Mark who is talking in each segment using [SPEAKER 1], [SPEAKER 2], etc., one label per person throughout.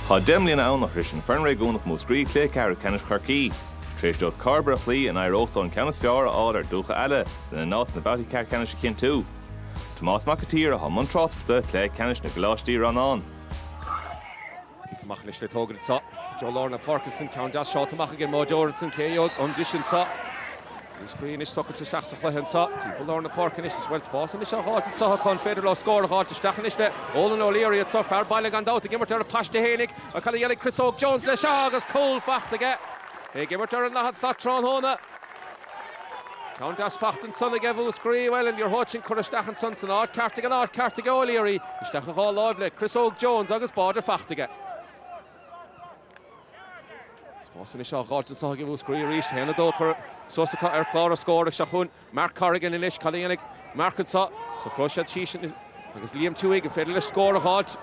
[SPEAKER 1] Tá deich mbliana ann ó shroich an fhoireann réigiúnach Múscraí cluiche ceathrú ceannais Chorcaí. Tar éis dóibh Cairbre a chloí ní raibh uathu ach an ceann is fearr a fháil ar Dhúiche Ealla lena n-áit sna babhtaí ceathrú-ceannais a chinntiú. Tomás Mac an tSaoir atá i mbun tráchtaireachta cluiche ceannais na gcoláistí rannán. Is cic amach anois le tógaint anso i dtreo lár na páirce ansan, ceann deas sáite amach ag an mbáideoir ansan, seo chugainn arís anso. Múscraí anois socailte isteach sa chluiche anso. Timpeall lár na páirce anois is an bhfuil spás anois á dh'fháilt anso an féidir leo scór a dh'fháilt isteach anois le Eolan O'Leary anso, fear baile gan dabht, ag imirt ar a phaiste fhéinig. Cad a dhéanfaidh Chris Óg Jones leis seo agus cúl fachta aige. É ag imirt ar an dathad slat tráthnóna. Ceann deas fachta ansan aige Mhúscraí, bhuel, an liathróid sin curtha isteach ansan san áit cheart ag an áit ceart aige O'Leary, isteach i dhá láimh le Chris Óg Jones agus báide fachta aige. Spás anois á dh'fháilt anso ag Mhúscraí arís, haon a dó curtha suas acu ar chlár na scór, seo chugainn Mark Corrigan anois, cad a dhéanfaidh Mark anso, socróidh siad síos. Agus Liam Tuohy an féidir leis scór a dh'fháilt,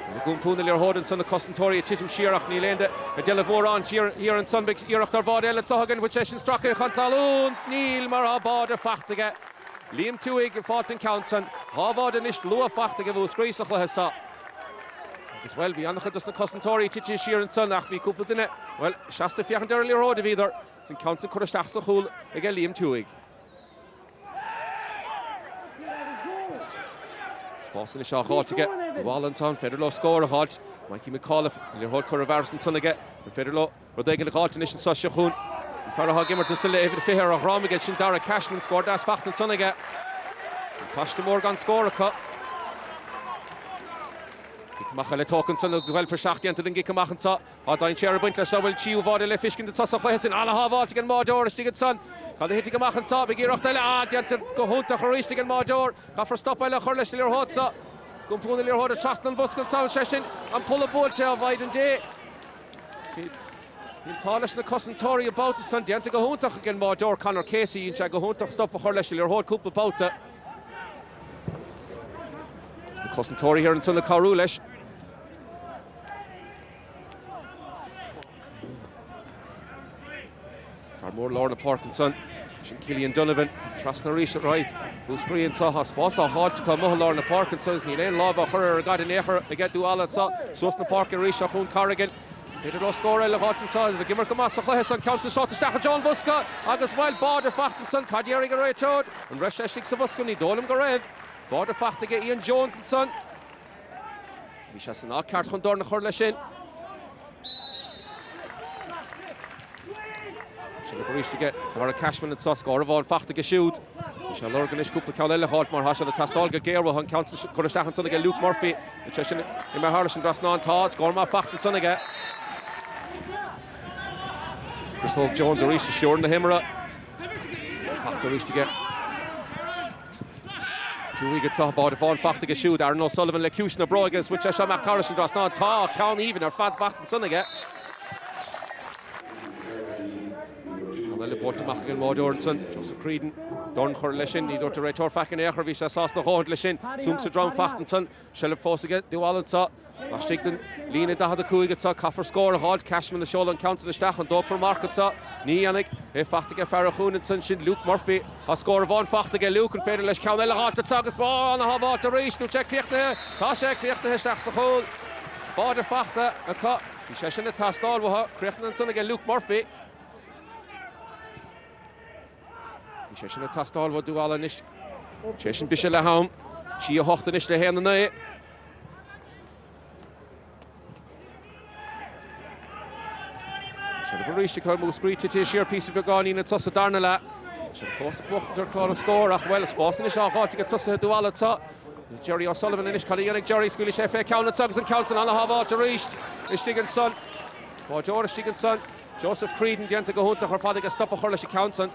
[SPEAKER 1] rinne iompú na liathróide ansan na cosantóirí ag titim siar ach níl aon de a d'fheilfeadh mórán siar thiar ansan. Beidh iarracht ar bháide eile seo chugainn an bhfuil seisean stractha chun talún. Níl mar tá báide faighte aige. Liam Tuohy ag fáilt an ceann san. Dhá bháide anois luath faighte aige Múscraí sa chluiche so. Agus, bhuel, bhí ana-chuid dos na cosantóirí titithe siar ansan ach bhí cúpla duine, bhuel, seasta ag féachaint ar an liathróid a bhíodar. Is an ceann san curtha isteach sa chúl aige Liam Tuohy. Spás anois á dh'fháilt aige Dúiche Ealla ansan, an féidir leo scór a dh'fháilt. Mikey McAuliffe, an liathróid curtha i bhfearas ansan aige, an féidir leo rud éigin a dh'fháilt anois anso seo chugainn? An fear atá ag imirt anso le uimhir a fiche ar a dhroim aige, sin Darragh Cashman, scór deas faighte ansan aige. An paiste mór gan scór acu. Cic amach eile tógtha ansan agus an bhfuil praiseach déanta den gcic amach anso. Tá dainséar ag baint le siubhal tríú bháire le fiscint annso sa chluiche sin ana-shábháilt ag an mbáideoir istigh annsan. Cad a thitfidh amach annso? Beidh iarracht eile, déanta go hiúntach aríst ag an mbáideoir. Caithfear stop eile a chur leis an liathróid so. Iompú na liathróide trasna an bhosca annso is é sin an polla buailte ó a Mhaighdean Dé. Bhí an t-ádh leis na cosantóirí an babhta san. Déanta go hiúntach ag an mbáideoir Conor Casey. Dhein sé go hiúntach stop a chur leis an liathróid cúpla babhta. Agus na cosantóirí thiar annsan ag cabhrú leis. Fear mór lár na páirce ansan, sin Cillian Donovan, trasna arís ar aghaidh. Múscraí anso tá spás á fháilt acu amuigh i lár na páirce ansan agus níl aon láimh á chur ar an gcaid in aon chor aige Dúiche Ealla anso. Suas na páirce arís seo chugainn Corrigan. An féidir leo scór eile a dh'fháilt anso agus bheith ag imirt go maith sa chluiche san. Ceann san sáite isteach i dtreo an bhosca agus an bhfuil báide fachta ansan. Cad déarfaidh an réiteoir? An raibh sé istigh sa bhosca? Ní dóigh liom go raibh. Báide fachta aige Ian Jones ansan. Bhí sé san áit ceart chun dorn a chur leis sin. Seilbh arís aige Darragh Cashman anso scór amháin fachta aige siúd. Bhí sé lorg anois cúpla ceann eile a fháilt mar tá sé ag teastáil go géar uathu an ceann san curtha isteach ansan aige Luke Murphy, agus é sin imithe thairis an trasnán. Tá scór maith fachta ansan aige. Chris Óg Jones arís ag stiúradh na himeartha. Fachta arís aige. Tabhartha aige anso, báide amháin fachta aige siúd, Aaron O'Sullivan le ciumhais na bróige agus bhain sé seo amach thairis an trasnán. Tá ceann aoibhinn ar fad fachta ansan aige. Ceann eile buailte amach ag an mbáideoir ansan, Joseph Creedon. Dorn chur leis sin, ní dúirt an réiteoir faic in aon chor, bhí sé sásta a dhóthaint leis sin. Súnc sa drom fachta ansan. Seilbh fós aige Dúiche Ealla anso. Laistigh den líne 45 anso caithfear scór a dh'fháilt. Cashman ag seoladh an ceann san isteach. An dtógfar marc anso? Ní dhéanfaidh. É fachta aige fear an chúinne ansan, Luke Murphy. Tá scór amháin fachta aige Luke. An féidir leis ceann eile a dh'fháilt anso agus bonn a shábháilt arís? Níl sé críochnaithe. Tá sé críochnaithe isteach sa chúl. Báide fachta acu. Bhí sé sin ag teastáil uathu. Críochnaithe ansan aige Luke Murphy. Bhí sé sin ag teastáil ó Dhúiche Ealla anois. Is é sin biseach le ham. 3-8 anois le 1-9. Seilbh arís acu, Múscraí tite siar píosa beagáinín le tús an darna leath. Iad fós ag buachaint ar chlár na scór ach, bhuel, spás anois á fháilt aige tosaithe Dhúiche Ealla anso. Gerry O'Sullivan anois, cad a dhéanfaidh Gerry? Scaoilfidh sé fé cheann anseo agus an ceann san á shábháilt arís. Istigh ansan. Báideoir istigh ansan. Joseph Creedon déanta go hiontach ar fad aige stop a chur leis an ceann san.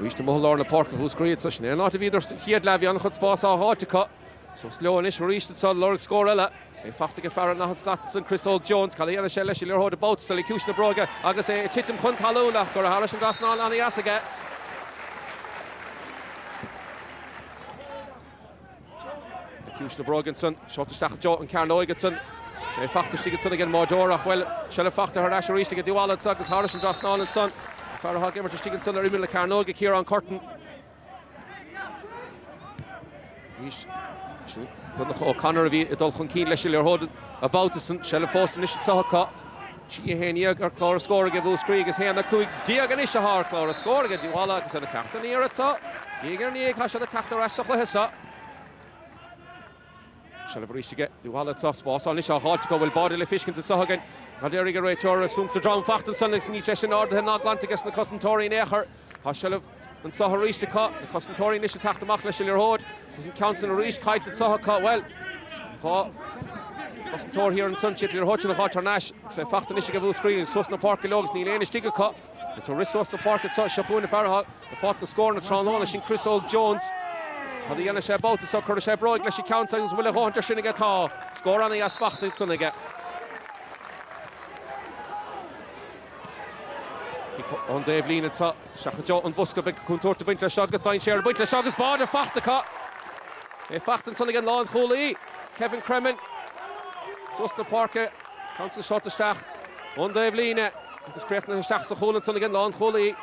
[SPEAKER 1] Arís amuigh i lár na páirce Múscraí, sin é an áit a bhíodar sa chéad leath. Bhí an-chuid spás á fháilt acu. Suas leo anois arís ansan ag lorg scór eile. É fachta aige fear an daichead slat ansan Chris Óg Jones. Cad a dhéanfaidh sé leis an liathróid an babhta so le ciumhais na bróige agus é ag titim chun talún ach curtha thairis an trasnán ansan aige. Ciumhais na bróige ansan. Seolta isteach i dtreo na cearnóige ansan. É fachta istigh ansan ag an mbáideoir ach, bhuel, seilbh fachta thar n-ais arís aige Dúiche Ealla ansan agus thairis an trasnán ansan. Fear atá ag imirt istigh ansan ar imeall na cearnóige, Ciarán Curtin. Is Donncha O'Connor a bhí ag dul chun cinn leis an liathróid an babhta san. Seilbh fós anois anso acu. 3-11 ar chlár na scór aige Múscraí agus 1-15 anois athá ar chlár na scór aige Dúiche Ealla agus iad ag teacht aniar anseo. Diaidh ar ndiaidh tá siad ag teacht ar ais sa chluiche seo. Seilbh arís aige Dúiche Ealla anso spás anois á fháilt acu, an bhfuil báide le feiscint anso againn. Cad déarfaidh an réiteoir, súnc sa drom fachta ansan agus níl sé sin ardaithe ná glanta aige sna cosantóirí in aon chor. Tá seilbh anseo arís acu, na cosantóirí anois ag teacht amach leis an liathróid agus an ceann san arís caillte anseo acu, bhuel, dhá cosantóir thiar ansan, siod í an liathróid sin ag dul thar n-ais, agus é faighte anois ag Múscraí, ag suas na páirce leo agus níl éinne istigh acu. Is é ag rith suas na páirce anseo, seo chugainn an fear atá ag fáilt na scóranna tráthnóna, sin Chris Óg Jones. Cad a dhéanfaidh sé an babhta seo, cuirfidh sé bróig leis an gceann san agus an bhfuil a dhóthaint air sin aige? Tá scór ana-dheas faighte ansan aige. Cic ón dtaobhlíne anseo. Seachadadh sa bhosca beag contúirt a bhaint leis agus dainséar ag baint leis agus báire faighte acu. Báire faighte ansan ag an lánchúlaí, Kevin Cremin. Suas chun na páirce, ceann san seolta isteach ón dtaobh líne agus críochnaithe isteach sa chúl ansan ag an lánchúlaí.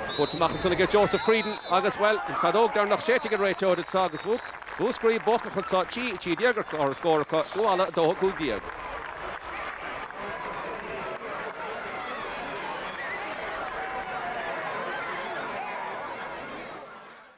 [SPEAKER 1] Tabhartha amach ansan ag Joseph Creedon agus, bhuel, an fheadóg dheireanach séidte ag an réiteoir anseo agus, whoop, Múscraí buaite acu anso a trí trí déag ar an scór acu Uíbh Ealla 2-15.